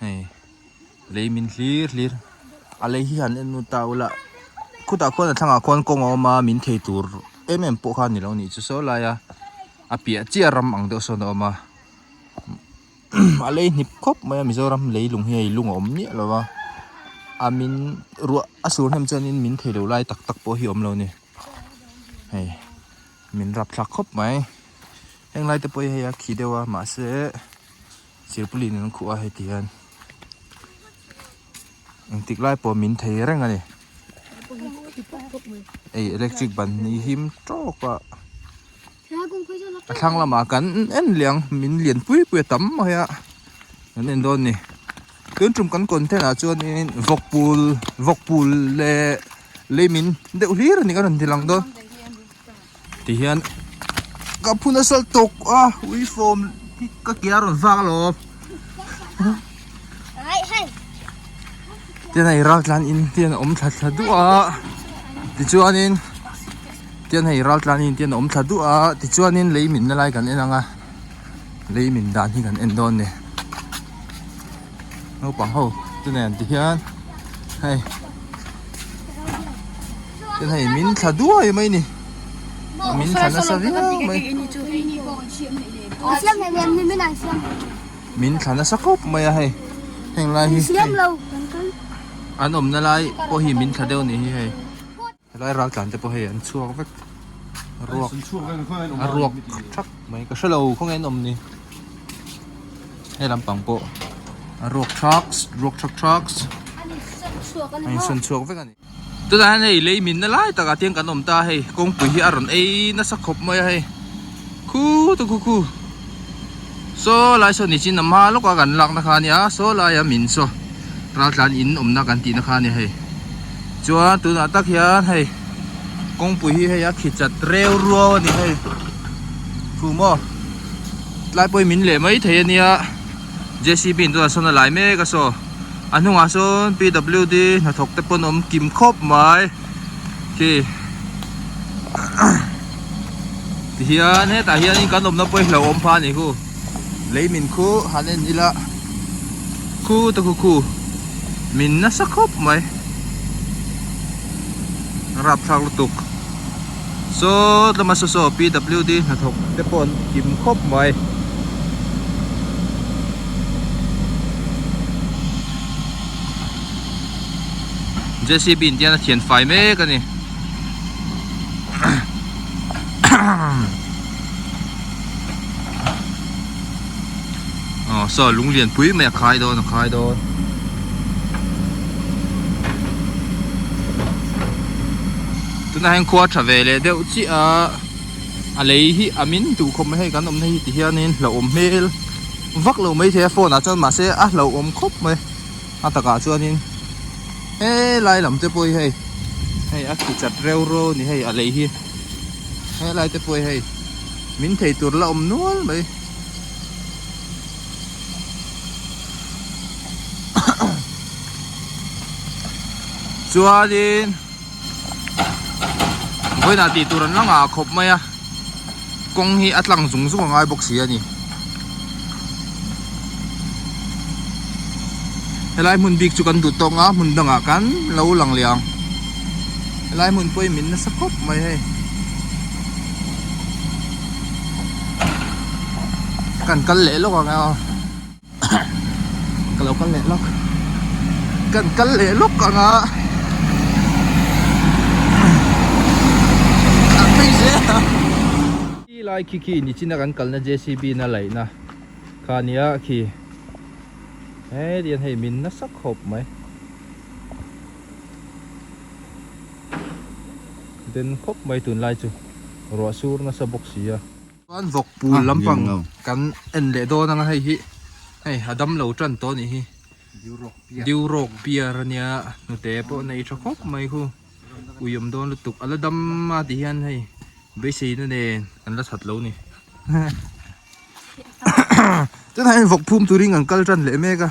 hei lei min hlir hlir a lei hi han en ta ula khutah khuan a thlangah khuan kawng a awm a min thei tur em em pawh khan ni lo nih chu sawi lai a a piah chiah ram ang deuh sawn a awm a a lei hnip khawp mai a mizoram lei lung hi a i lung a awm miah lo va a min ruah a sur hnem chuan in min thei loh lai tak tak pawh hi a awm lo ni hei min rapthlak khawp mai heng lai te pawh i hei a khi deuh a mahse-- Sirpuli in an khuh a heti hian engtik lai pawh min thei reng a ni ei electric ban hi him tawk a a thlang lamah kan en liang min lian pui pui a tam mai a kan en dawn a ni tin tum kan content ah chuan in vawkpul vawkpul leh leimin deuh hlir a ni kan rawn dilang dawn. ti hian ka phun a sal tawk a uifawm hi ka ke a rawn vak lo tian hei ral tlan in tian a awm thla thla duah a tichuanin tian hei ral tlan in tian a awm thla duah a tichuanin lei min na lai kan en ang a lei min dan hi kan en dawn a ni. Naupang ho te nen ti hian hei ten hei min thla duai mai ni min thla nasa viau mai min thla nasa khawp mai a hei heng lai hi an awmna lai pawh hi min thla deuh ni hi hei Helai ral tlan te pawh hei an chhuak vek a ruak a ruak thap mai ka hrelo khaw nge an awm ni he lampang pawh a ruak thak ruak thak thak a insawn chhuak vek a ni tunah hian hei lei min na lai takah tiang kan awm ta hei kawngpui hi a rawn ei nasa khawp mai a hei khu tu khu khu. Saw lai saw nichin a hma lawka kan lakna kha ania saw laia min saw ral tlan in awmna kan tihna kha ania hei chuan tunah tak hian hei kawngpui hi hei a khichat reu ruau a ni hei thu maw tlai pawhin min leh mai thei ania jcb in tunah sawn a lai mek a saw a hnungah sawn pwd hnathawk te pawh an awm kim khawp mai. Hei tihian hetah hian kan awmna pawh hi hlauh awm pha a ni hu lei min khu han en ila khu te khu khu min nasa khawp mai rapthlak lutuk sawt lama saw saw pwd hnathawk te pawh an kim khawp mai jcb in tian a thian fai mek a ni aw saw lung lian pui mai a khai dawn a khai dawn tunah hian khua tha ve leh deuh chiah a a lei hi a min duh khawp mai hei kan awmna hi ti hianin hlauhawm hmel vak lo mai theia phone ah chuan mahse a hlauhawm khawp mai. a takah chuanin helai lam te pawh hei hei a khichat reu reu a ni hei a lei hi helai te pawh hei min thei tur la awm nual mai chuanin Vawiinah tih tur an la ngah khawp mai a, kawng hi a tlang zung zung a ngai bawk si a ni. Helai hmun bik chu kan duh tawk nga, hmun dangah kan lo lang leh ang. Helai hmun pawh hi min nasa khawp mai hei. Kan kal leh lawk ang emaw. ka lo kal leh lawk kan kal leh lawk ang a an phei zel a khi lai khi khi ni chin a kan kalna jcb na laihna kha a nia khi he rian hei min nasa khawp mai den khawp mai tunlai chu ruah sur nasa bawk sia. Chuan vawk pul lampang kan en leh dawn ang a, hei hi hei a dam lo tan tawh a nih hi, Diurok pier a nia, hnute pawh a nei tha khawp mai hu, ui awm dawn lutuk, a la dam a tih hian hei beiseina nen kan la that lo a ni, ahem ahem, tunah hian vawk phum turin kan kal tan leh mek a.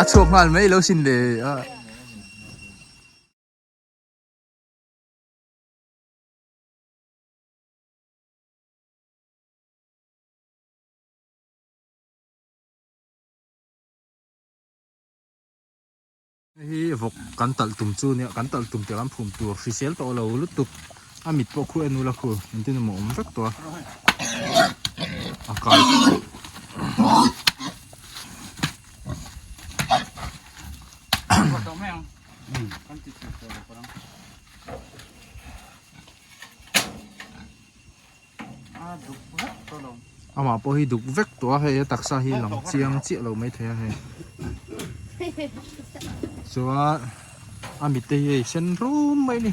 a chhuak nghal mai lo sin le ah. Hei hi vawk kan talh tum chu nia kan talh tum tih kan phum tur hrisel tawh lo lutuk a mit pawh khu enula khu engtin emaw awm vek tawh a. Amah pawh hi duk vek tawh a hei a taksa hi lang chiang chiah lo mai thei a hei chuan a mitte hi hei sen rum mai ni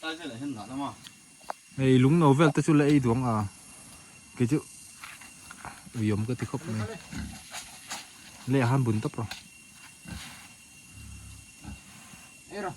Tlai velah hian ngah lama. Hei lung no vel te chu la ei duang a, kei chu ui awm ka ti khawp mai. Leh han bun tawp rawh. Erawh.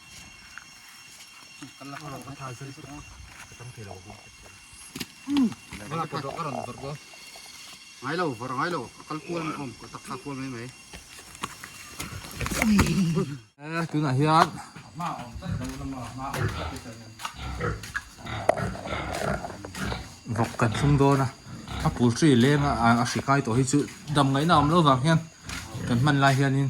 tunah hian vawk kan thlung dawn a a pul tih leng a a hri kai tawh hi chu damngaihna awm lo vang hian kan hman lai hianin.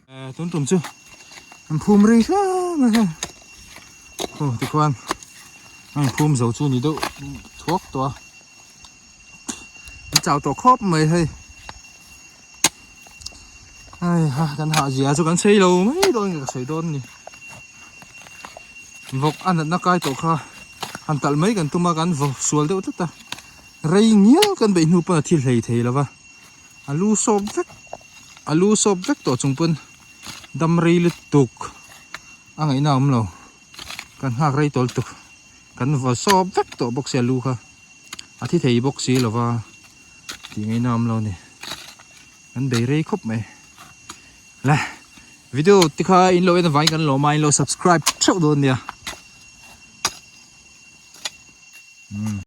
Tun tum chu an phum ri hleng a heng. Aw tikhuan an phum zo chu ni deuh thuak tawh a. An chau tawh khawp mai hei. Ai ha kan hah zia chu kan sei lo mai dawn nge ka sawi dawn ni. Vawk a natna kai tawh kha han talh mai kan tum a kan vawk sual deuh tlat a. Rei ngial kan beih hnu pawn a thil hlei thei lo va. A lu sawp vek a lu sawp vek tawh chung pawn damrei lutuk a ngaihna a awm lo kan nghak rei tawl tuk kan va sawp vek tawh bawk si a lu kha a thi thei bawk si lova tih ngaihna a awm lo a ni kan bei rei khawp mai la video te kha in lo en avangin kan lawm a in lo subscribe theuh dawn a nia